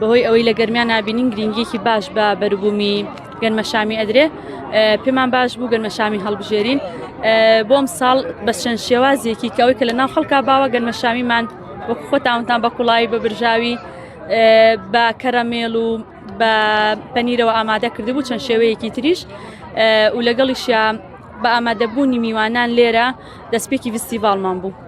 بەهۆی ئەوەی لە گەرمیا نابینین گرنگیەکی باش بە بەروبوومی گەنمەشامی ئەدرێ پێمان باش بوو گەنمەشامی هەڵبژێرین بۆم ساڵ بە چەند شێوازێکی کەەوەی کە لە ناو خەڵکا باوە گەنمەشامیمان وەک خۆتاونتان بە کوڵایی بە برژاوی بە کەرەمێڵ و بە پەنیرەوە ئامادە کردبوو چەند شێوەیەکی تریش و لەگەڵیشیان بە ئامادەبوونی میوانان لێرە دەستپێکی ویستی باڵمان بوو.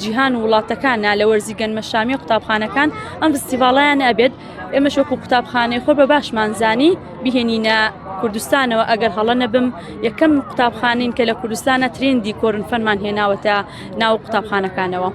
جیهان و وڵاتەکان نا لە وەرزی گەنمە شامیە قوتابخانەکان ئەم فستیڤاڵیان ئەبێت ئێمە شۆک و قوتابخانەی خۆ بە باشمانزانی بهێنینە کوردستانەوە ئەگەر هەڵە نەبم یەکەم قوتابخانین کە لە کوردستانە ترندی کۆرن فەنمان هێناوەتە ناو قوتابخانەکانەوە.